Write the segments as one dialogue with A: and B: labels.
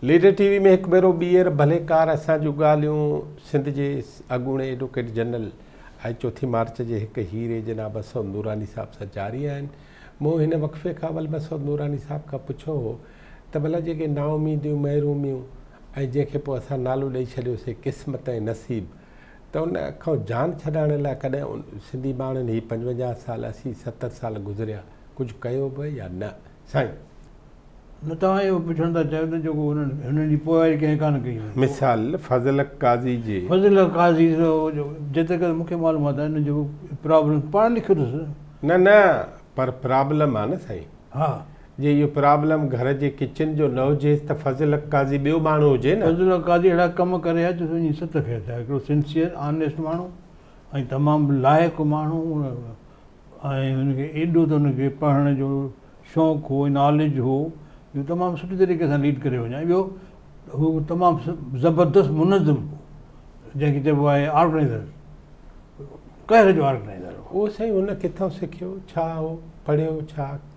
A: Leader TV ۾ هڪ ڀيرو ٻيهر ڀليڪار اسان جون ڳالهيون سنڌ جي اڳوڻي ايڊوڪيٽ جنرل ۽ چوٿين مارچ جي هڪ هيري جناب اسود نوراني صاحب سان جاري آهن. مون هن وقفي کان اول ۾ اسود نوراني صاحب کان پڇيو هو ته ڀلا جيڪي نااميديون، محروميون ۽ جنهن کي پوء اسان نالو ڏئي ڇڏيوسي قسمت ۽ نصيب ته ان کان جان ڇڏائڻ لاء ڪڏهن سنڌي ماڻهن هي پنجونجاهه سال، اسي ستر سال گذريا ڪجهه ڪيو به يا نه؟ سائين! نه
B: توهان اهو پڇڻ ٿا چاهيو ته جيڪو هنن هنن جي پوئواري ڪنهن ڪانه ڪئي هئي. مثال، فضل
A: حق قاضي جي. فضل حق قاضي جو
B: جو جتي ڪري مونکي معلومات آهي نه جيڪو پرابلم پاڻ لکيو اٿس. نه نه
A: پر پرابلم آهي نه سائين. ها. جي
B: اهو
A: پرابلم گهر جي ڪچن جو نه هجيس ته فضل حق قاضي ٻيو ماڻهو هجي نه. فضل حق قاضي اهڙا ڪم
B: ڪري آيو جو وڃي ست کي اچايو هڪڙو سنسيئر آنيسٽ ماڻهو ۽ تمام لائق ماڻهو ۽ هن کي ايڏو ته هن کي پڙهڻ جو شوق هو ناليج هو جو تمام سٺي طريقي سان ليڊ ڪري وڃان ٻيو هو تمام زبردست منظم هو جنهن کي چئبو آهي آرگنائزر قهر جو آرگنائزر هو. اهو سائين هن ڪٿان
A: سکيو ڇا هو پڙهيو ڇا.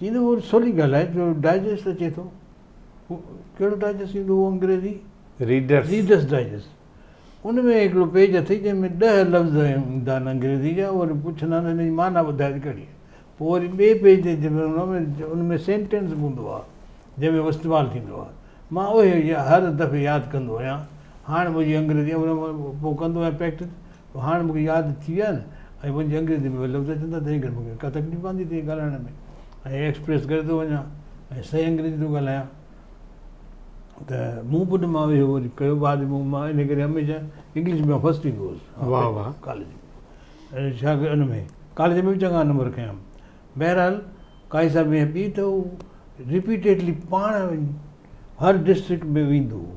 B: جيئن ته هو سولي ڳالهائي جو ڊائجسٽ اچي ٿو هو ڪهڙو ڊائجسٽ ايندو هو انگريزي ريڊرس ريڊرس ڊائجسٽ ان ۾ هڪڙو پيج اٿئي جنهن ۾ ڏهه لفظ ايندا آهن انگريزي جا اهي پڇندا آهن ان جي معنيٰ ٻڌايو ته ڪهڙي آهي پوء وري ٻئي پيج تي جنهن ۾ هوندو آهي ان ۾ سينٽينس به هوندو آهي جنهن ۾ هو استعمال ٿيندو آهي مان اهي هر دفعي ياد ڪندو آهيان هاڻ منهنجي انگريزي پوء ڪندو آهيان پريڪٽس هاڻ مون کي ياد ٿي ويا نه ۽ منهنجي انگريزي ۾ اهي لفظ اچن ٿا تنهن ڪري مون کي ڪا تڪليف پوندي تئين ڳالهائڻ ۾ ۽ ايڪسپريس ڪري ٿو وڃان ۽ صحيح انگريزي ٿو ڳالهايان ته مون پٽ مان اهو وري ڪيو بعد ۾ مان ان ڪري هميشه انگلش ۾ فرسٽ ايندو هوس واهه واهه ڪاليج ۾ ڇا ان ۾ ڪاليج ۾ به چڱا نمبر کيا بهرحال قائد صاحب ائين پي ته هو رپيٽيڊلي پاڻ هر ڊسٽرڪٽ ۾ ويندو هو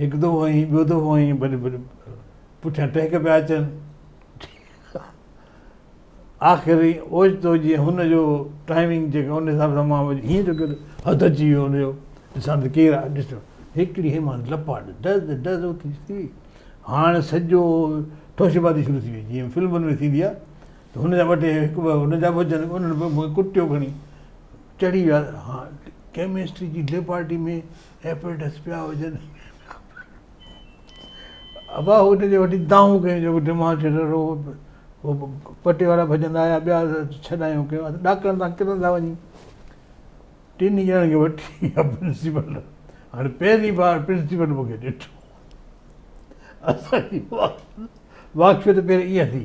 B: هڪ دو هئين، ٻيو دو هئين، ڀلي ڀلي پٺيان ٽهڪ پيا اچن. آخر اوچتو جيئن هن جو ٽائمنگ جيڪا ان حساب سان مان هيئن جو ڪيو حد اچي ويو ان جو ڏسان ته ڪير آهي ڏس هڪڙي هيء مان لپاٽ ڊز ڊز اٿي ٿي هاڻ سڄو ٺوشبازي شروع ٿي وئي جيئن فلمن ۾ ٿيندي آهي ته هن جا ٻه ٽي هڪ ٻه هن جا به اچن انهن به مون کي ڪٽيو کڻي چڙهي ويا ها ڪيمسٽري جي ليبارٽري ۾ ايفرٽس پيا هجن ابا هو هن جي وٽي دانهون ڪيون جو دماغ کي رڙو هو پٽي وارا ڀڄندا آيا ٻيا ڇڏايون ڪيون اسان ڊاڪٽرن تان ڪٿان ٿا وڃون ٽنهي ڄڻن کي وٺي پرنسپل هاڻي پهرين بار پرنسپل مون کي ڏٺو اسان جي واقفيت پهرين ائين ٿي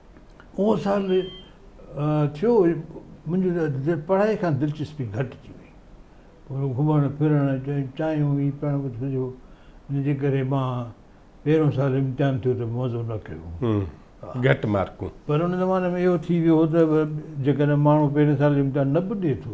B: اهو سال ٿيو منهنجي پڙهائي کان دلچسپي گهٽجي وئي پوء گهمڻ ڦرڻ چايون ئي پيڻ وڌو جنهن جي ڪري مان پهريون سال امتحان ٿيو ته مزو نه ڪيو گهٽ مارڪون
A: پر ان زماني ۾ اهو
B: ٿي ويو هو ته جيڪڏهن ماڻهو پهرين سال امتحان نه به ڏئي ٿو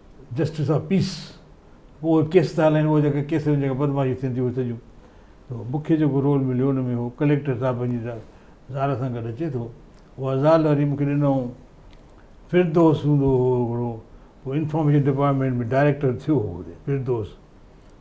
B: جسٽس آف پيس پوء اهي ڪيس ٿا هلائين اهي جيڪي ڪيس ۾ جيڪي بدمعاشيون ٿين ٿيون اهي سڄيون ته مون کي جيڪو رول مليو ان ۾ هو ڪليڪٽر صاحب پنهنجي زال سان گڏ اچي ٿو اها زال وري مون کي ڏنائون فردوس هوندو هو هڪڙو انفارميشن ڊپارٽمينٽ ۾ ڊائريڪٽر ٿيو هو فردوس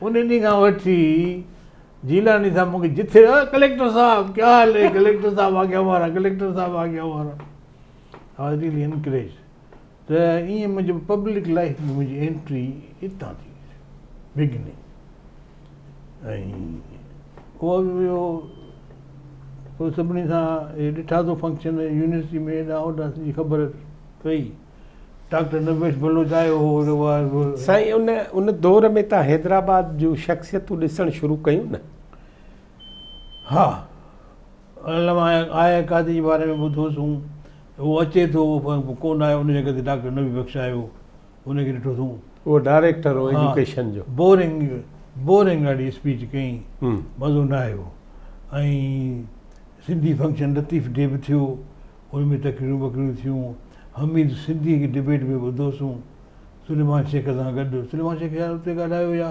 B: ان ڏينهن کان وٺي جيلاني صاحب مون کي جٿي ڪليڪٽر صاحب ڪيا حال هي ڪليڪٽر صاحب آگيا وارا ڪليڪٽر صاحب آگيا وارا آواز ڏيلي انڪريج ته ائين منهنجي پبلڪ لائف ۾ منهنجي انٽري اتان ٿي بگننگ ۽ هو ويو پوء سڀني سان ڏٺا ٿو فنڪشن يونيورسٽي ۾ هيڏانهن هوڏانهن سڄي خبر پئي ڊاڪٽر نويش بلوچ آيو هو ان وقت. سائين ان ان
A: دور ۾ تان حيدرآباد جون شخصيتون ڏسڻ شروع ڪيون نه؟
B: ها علامه آء قاضي جي باري ۾ ٻڌو سون هو اچي ٿو پر ڪو نه آيو ان جڳهه تي ڊاڪٽر نبي بخش آيو ان کي ڏٺو سون. اهو ڊائريڪٽر
A: هو ايجوڪيشن جو. بورنگ بورنگ
B: اهڙي اسپيچ ڪيائين مزو نه آيو ۽ سنڌي فنڪشن لطيف ڊي به ٿيو ان ۾ تقريرون وقريرون ٿيون. حميد سنڌيء کي ڊبيٽ ۾ ٻڌو سون سليمان شيخ سان گڏ سليمان شيخ شايد اتي ڳالهايو يا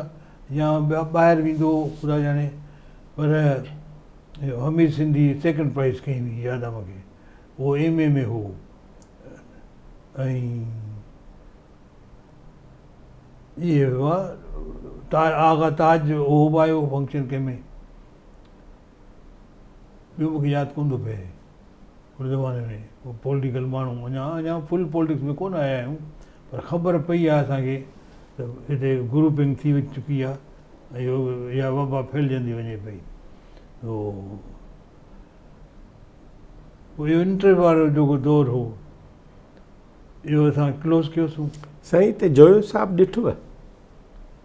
B: يا ٻاهر ويندو هو خدا ڄاڻي پر حميد سنڌيء سيڪنڊ پرائز کنئي هئي ياد آ مون کي اهو ايم اي ۾ هو اهي هئا آغا تاج اهو به آيو فنڪشن ڪنهن ۾ ٻيو مون کي ياد ڪونه ٿو پئي ان زماني ۾ ڪو پولٽيڪل ماڻهو اڃا اڃا فل پولٽڪس ۾ ڪونه آيا آهيون پر خبر پئي آهي اسانکي ته هتي گروپنگ ٿي چڪي آهي يا وبا ڦهلجندي وڃي پئي اهو انٽر وارو جيڪو دور هو اهو اسان ڪلوز ڪيوسون سائين ته جويو
A: صاحب ڏٺوء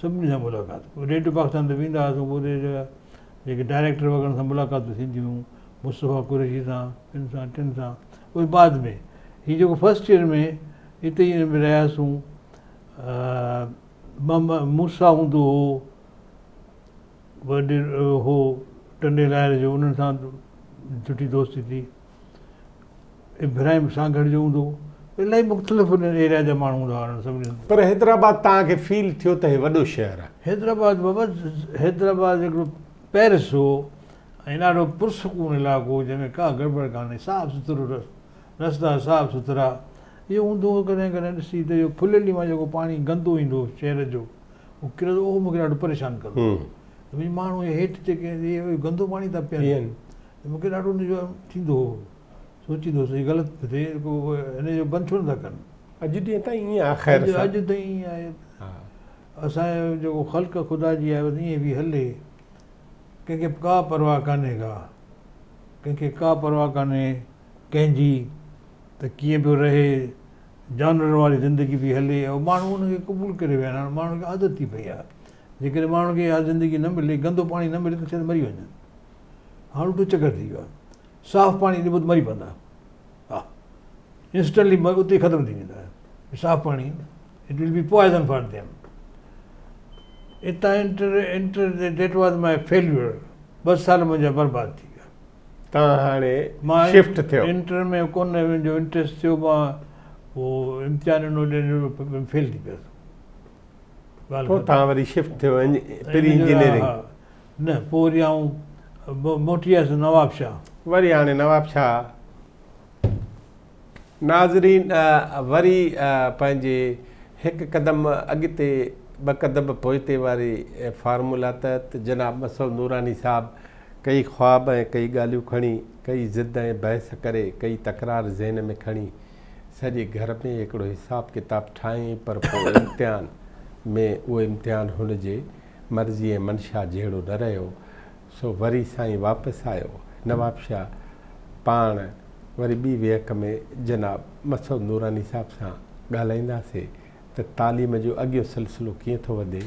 B: سڀني سان ملاقات ڪئي، ريڊيو پاڪستان تي ويندا هئاسون پوء اتي جا جيڪي ڊائريڪٽر وغيره ان سان ملاقاتون ٿينديون هيون مصطفيٰ قريشي سان ٻن سان ٽن سان اهي بعد ۾ هي جيڪو فرسٽ ايئر ۾ اتي ئي ۾ رهياسون محمد موسيٰ هوندو هو وڏيرو هو ٽنڊي لاهر جو انهن سان سٺي دوستي ٿي ابراهيم سانگهڙ جو هوندو الاهي مختلف انهن ايريا جا ماڻهو هوندا انهن سڀني پر حيدرآباد تان
A: کي فيل ٿيو ته هي وڏو شهر آهي حيدرآباد بابا
B: حيدرآباد هڪڙو پيرس هو ۽ ڏاڍو پرسڪون علاقو جنهن ۾ ڪا گڙٻڙ ڪانهي صاف سٿرو رستا صاف سٿرا اهو هوندو هو ڪڏهن ڪڏهن ڏسي ته اهو ڦليلي مان جيڪو پاڻي گندو ايندو هو شهر جو هو ڪرندو اهو مونکي ڏاڍو پريشان ڪندو هو ماڻهو هيٺ جيڪي گندو پاڻي ٿا پيئن ته مون کي ڏاڍو ان جو ٿيندو هو. سوچيندو هوس هي غلط ٿو ٿئي، رڳو هن جو بند ڇو نٿا ڪن. اڄ ڏينهن تائين ائين آهي
A: خير سان. اڄ تائين ائين آهي.
B: اسان جو جيڪو خلق خدا جي آهي بس ائين پئي هلي. ڪنهن کي ڪا پرواهه ڪانهي ڪا. ڪنهن کي ڪا پرواهه ڪانهي ڪنهن جي ته ڪيئن پيو رهي. جانورن واري زندگي پئي هلي ۽ ماڻهو ان کي قبول ڪري ويا آهن. هاڻ ماڻهن کي عادت ٿي پئي آهي. جيڪڏهن ماڻهن کي اها زندگي نه ملي، گندو پاڻي نه ملي ته شايد مري وڃن. هاڻ تون چڪر ٿي ويو آهي. صاف پاڻي ڏبو ته مري پوندا. ها Instantly مري اتي ختم ٿي ويندا. صاف پاڻي It will be poison for them. اتان enter That was my failure. ٻه سال منهنجا برباد ٿي ويا. تان هاڻي
A: شفٽ ٿيو. انٽر ۾ ڪونه منهنجو
B: انٽريسٽ ٿيو مان هو امتحان ڏنو ڏنو فيل ٿي پيس.
A: پوء تان وري شفٽ ٿيو پري انجنيئرنگ. نه پوء
B: وري آئون موٽي آيس نوابشاهه. وري هاڻي
A: نوابشاهه. ناظرين وري پنهنجي هڪ قدم اڳتي ٻه قدم پوئتي واري فارمولا تحت جناب مسعود نوراني صاحب ڪيئي خواب ۽ ڪيئي ڳالهيون کڻي ڪيئي ضد ۽ بحث ڪري ڪيئي تڪرار ذهن ۾ کڻي سڄي گهر ۾ هڪڙو حساب ڪتاب ٺاهين پر پوء امتحان ۾ اهو امتحان هن جي مرضي ۽ منشا جهڙو نه رهيو، سو وري سائين واپس آيو. نوابشاهه پاڻ وري ٻي ويهڪ ۾ جناب مسعود نوراني صاحب سان ڳالهائينداسي ته تعليم جو اڳيون سلسلو ڪيئن ٿو وڌي.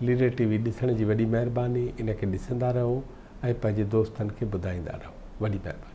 A: ليڊر ٽي وي ڏسڻ جي وڏي مهرباني، ان کي ڏسندا رهو ۽ پنهنجي دوستن کي ٻڌائيندا رهو. وڏي مهرباني.